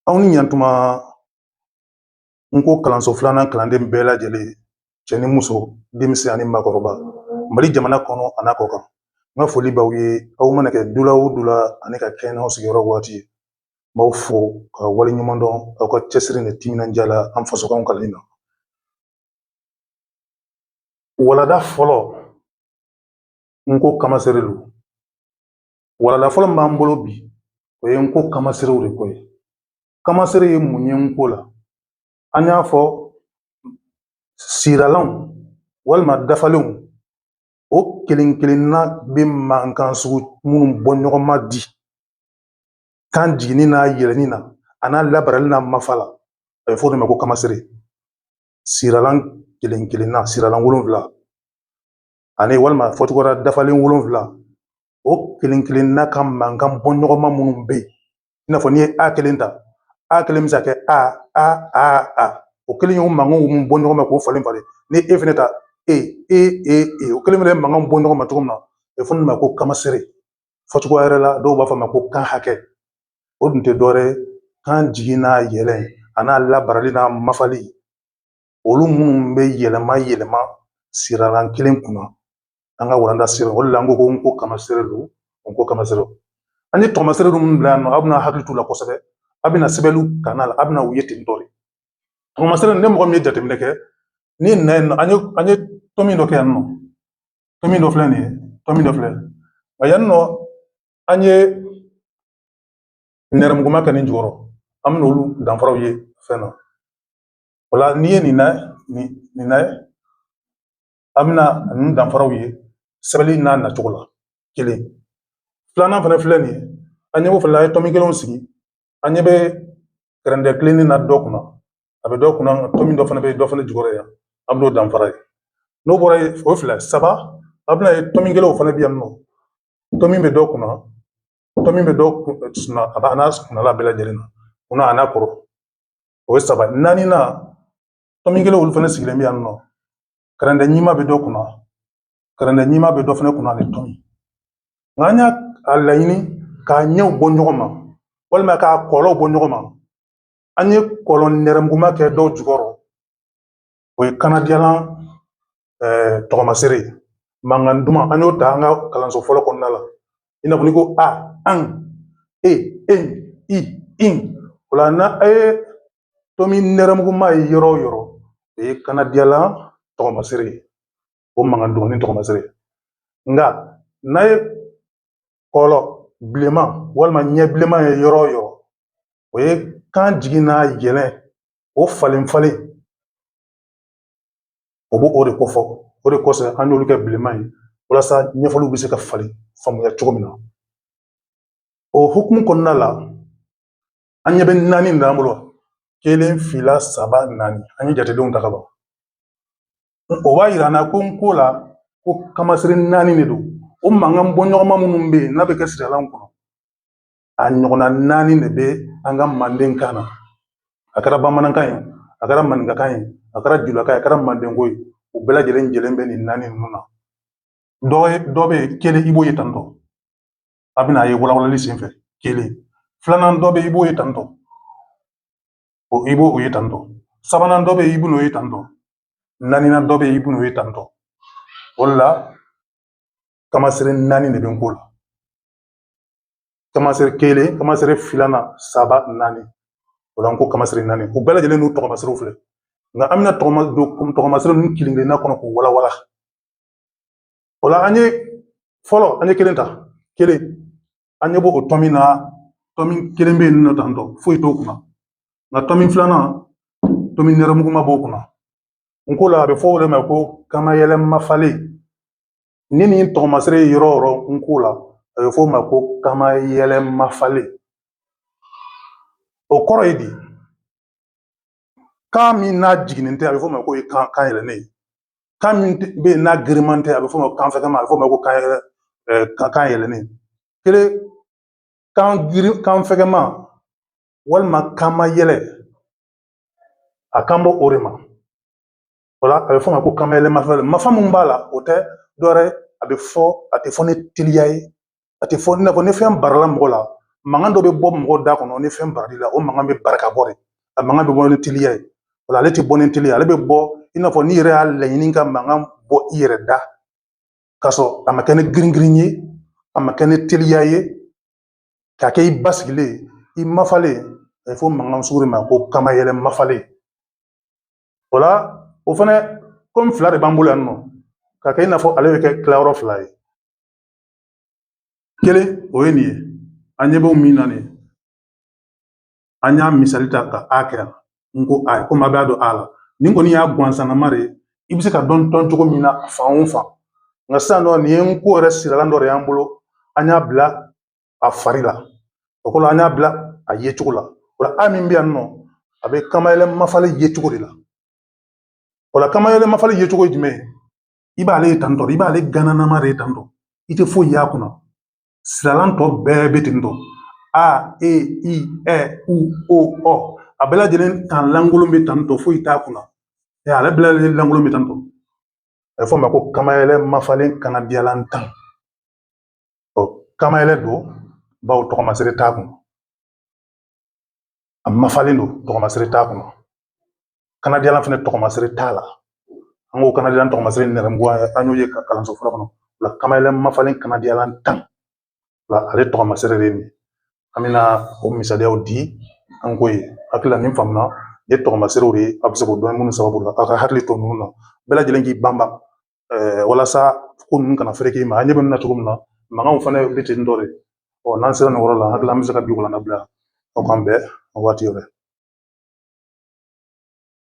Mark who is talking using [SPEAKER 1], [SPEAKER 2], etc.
[SPEAKER 1] Aw ni ɲantuma n ko kalanso filanan kalanden bɛɛ lajɛlen cɛ ni muso denmisɛn ani maakɔrɔba mali jamana kɔnɔ a n'a kɔkan n ka foli b'aw ye aw mana kɛ dula o dula ani ka kɛɲɛ n'aw sigiyɔrɔ waati ye n b'aw fo ka waleɲumandɔn aw ka cɛsiri ni timinandiya la an fasokanw kalanni na walada fɔlɔ n ko kamasere don Walanda fɔlɔ min b'an bolo bi o ye n ko kamaserew de ko ye kamasere ye mun ye n ko la an y'a fɔ siralanw walima dafalenw o kelen kelenna bɛ mankan sugu minnu bɔ ɲɔgɔn ma di kan jiginni n'a yɛlɛnni na a n'a labarali n'a mafa la a bɛ fɔ o de ma ko kamasere siralan kelen kelenna siralan wolonwula ani walima fɔcogoya dafalen wolonfila o kelen kelenna ka mankan bɔ ɲɔgɔn ma minnu bɛ yen i n'a fɔ n'i ye a kelen ta a kelen bɛ se ka kɛ a a a a o kelen ye mankan minnu bɔ ɲɔgɔn ma k'o falen falen ni e fɛnɛ ta e e e e o kelen bɛ mankan bɔ ɲɔgɔn ma cogo min na a bɛ fɔ o ma ko kamasere fɔcogo wɛrɛ la dɔw b'a fɔ ma ko kan hakɛ o dun tɛ dɔwɛrɛ ye kan jigin n'a yɛlɛn a n'a labarali n'a mafali olu minnu bɛ yɛlɛma yɛlɛma siralan kelen kunna an ka walanda sira o de la an ko n ko kamasere don n ko kamasere an ye tɔmasere minnu bila yan nɔ aw bɛna hakili t'u la kosɛbɛ a bɛna sɛbɛnniw kan a la a bɛna u ye ten tɔ de tɔmasere ni mɔgɔ min ye jateminɛ kɛ nin na yan nɔ an ye an ye tɔmi dɔ kɛ yan nɔ tɔmi dɔ filɛ nin ye tɔmi dɔ filɛ nka yan nɔ an ye nɛrɛmuguma kɛ nin jukɔrɔ an bɛna olu danfaraw ye fɛn na O la n'i ye nin na nin na ye an bɛna ninnu danfaraw ye sɛbɛnni n'a nacogo la kelen filanan fana filɛ nin ye an ɲɛ b'o fana la an ye tɔmi kelenw sigi an ɲɛ bɛ kɛrɛndɛ tilennen na dɔ kunna a bɛ dɔ kunna tɔmi dɔ fana bɛ yen dɔ fana jukɔrɔ yan an bɛn'o danfara ye n'o bɔra yen o fila saba a bɛna ye tɔmi kelenw fana bɛ yan nɔ tɔmi bɛ dɔ kunna tɔmi bɛ dɔ kunna a b'a n'a kunna bɛɛ lajɛlen na kunna a n'a kɔrɔ o ye saba naaninan tɔmi kelenw olu fana sigilen bɛ yan nɔ karɛndɛ ɲima bɛ dɔ kunna karɛndɛ ɲima bɛ dɔ fana kunna ani tɔmi nka an y'a laɲini k'a ɲɛw bɔ ɲɔgɔn ma walima k'a kɔlɔw bɔ ɲɔgɔn ma an ye kɔlɔ nɛrɛmuguma kɛ dɔw jukɔrɔ o ye kanadiyalan tɔgɔmasere mankan duman an y'o ta an ka kalanso fɔlɔ kɔnɔna la i n'a fɔ ni ko a an e e i in o la n'a a ye tomi nɛrɛmuguma ye yɔrɔ o yɔrɔ o ye kanadiyalan tɔgɔmasere ye o mankan duman ni tɔgɔmasere nka n'a ye kɔlɔ bilenman walima ɲɛ bilenman ye yɔrɔ o yɔrɔ o ye kan jigin n'a yɛlɛ o falen falen o b'o o de kofɔ o de kosɔn an y'olu kɛ bilenman ye walasa ɲɛfɔliw bɛ se ka falen faamuya cogo min na o hukumu kɔnɔna la an ɲɛ bɛ naani de b'an bolo kelen fila saba naani an ye jatedenw ta ka ban o b'a yira an na ko n ko la ko kamasere naani de don o mankan bɔɲɔgɔnma minnu bɛ yen n'a bɛ kɛ siralan kɔnɔ a ɲɔgɔnna naani de bɛ an ka mandenkan na a kɛra bamanankan ye a kɛra maninkakan ye a kɛra julakan ye a kɛra mandenko ye u bɛɛ lajɛlen jɛlen bɛ nin naani ninnu na dɔ ye dɔ bɛ yen kelen i b'o ye tantɔ a bɛna ye walawalali senfɛ kelen filanan dɔ bɛ yen i b'o ye tantɔ o i b'o o ye tantɔ sabanan dɔ bɛ yen i b'o ye tantɔ naaninan dɔ bɛ yen i b'o ye tantɔ o de la kamasere naani de bɛ n ko la kamasere kelen kamasere filanan saba naani o la n ko kamasere naani u bɛɛ lajɛlen n'u tɔgɔmaserew filɛ nka an bɛna tɔgɔma don tɔgɔmasere ninnu kelen kelenna kɔnɔ k'u walawala o la an ye fɔlɔ an ye kelen ta kelen an ɲɛ b'o o tomi na tomi kelen bɛ yen nɔ tantɔ foyi t'o kunna nka tomi filanan tomi nɛrɛmuguma b'o kunna n ko la a bɛ fɔ o de ma ko kamayɛlɛ mafalen ni nin tɔgɔmasere ye yɔrɔ o yɔrɔ n ko la a bɛ f'o ma ko kamayɛlɛ mafalen o kɔrɔ ye di kan min n'a jiginnen tɛ a bɛ f'o ma ko kan kan yɛlɛlen kan min bɛ yen n'a giriman tɛ a bɛ f'o ma kan fɛgɛman a bɛ f'o ma ko kan yɛlɛ kan kan yɛlɛlen kelen kan girin kan fɛgɛman walima kamayɛlɛ a kan bɔ o de ma O la a bɛ fɔ o ma ko kamayɛlɛ mafalen mafa mun b'a la o tɛ dɔwɛrɛ a bɛ fɔ a tɛ fɔ ni teliya ye a tɛ fɔ i n'a fɔ ni fɛn barala mɔgɔ la mankan dɔ bɛ bɔ mɔgɔ da kɔnɔ ni fɛn baral'i la o mankan bɛ bari ka bɔ de a mankan bɛ bɔ ni teliya ye o la ale tɛ bɔ ni teliya ale bɛ bɔ i n'a fɔ n'i yɛrɛ y'a laɲini ka mankan bɔ i yɛrɛ da k'a sɔrɔ a ma kɛ ni girin girin ye a ma kɛ ni teliya ye k'a kɛ i basigilen i mafalen a bɛ fɔ mankan sugu de ma ko kamayɛlɛ mafalen o la o fana komi fila de b'an bolo yan nɔ k'a kɛ i n'a fɔ ale bɛ kɛ tilayɔrɔ fila ye kelen o ye nin ye an ɲɛ b'o min na nin ye an y'a misali ta ka a kɛ yan n ko a ye komi a b'a dɔn a la nin kɔni y'a gansanama de ye i bɛ se ka dɔn dɔn cogo min na fan o fan nka sisan nɔ nin ye n ko yɛrɛ siralan dɔ de y'an bolo an y'a bila a fari la o kɔrɔ an y'a bila a ye cogo la o la a min bɛ yan nɔ a bɛ kamayɛlɛ mafalen ye cogo de la o la kamayɛlɛ mafalen ye cogo ye jumɛn ye i b'ale ye tantɔ i b'ale gananama de ye tantɔ i tɛ foyi y'a kunna siralan tɔ bɛɛ bɛ ten tɔ a e i ɛ u o ɔ a bɛɛ lajɛlen kan lankolon bɛ tantɔ foyi t'a kunna ɛ ale bɛɛ lajɛlen lankolon bɛ tantɔ a bɛ fɔ o ma ko kamayɛlɛ mafalen kanadiyalan tan ɔ kamayɛlɛ don bawo tɔgɔmasere t'a kun a mafalen don tɔgɔmasere t'a kunna kanadiyalan fana tɔgɔmasere t'a la an ko kanadiyalan tɔgɔmasere nɛrɛmuguya an y'o ye ka kalanso fɔlɔ kɔnɔ o la kamayɛlɛ mafalen kanadiyalan tan o la ale tɔgɔmasere de ye nin an bɛna o misaliyaw di an ko ye hakili la nin faamuna ye tɔgɔmaserew de ye a bɛ se k'o dɔn minnu sababu la aw ka hakili to ninnu na bɛɛ lajɛlen k'i banban walasa ko ninnu kana fereke i ma ɲɛ bɛ na cogo min na mankanw fana bɛ ten dɔ de ɔ n'an sera nin yɔrɔ la hakili la an bɛ se ka bi walanda bila aw k'an bɛn waati wɛrɛ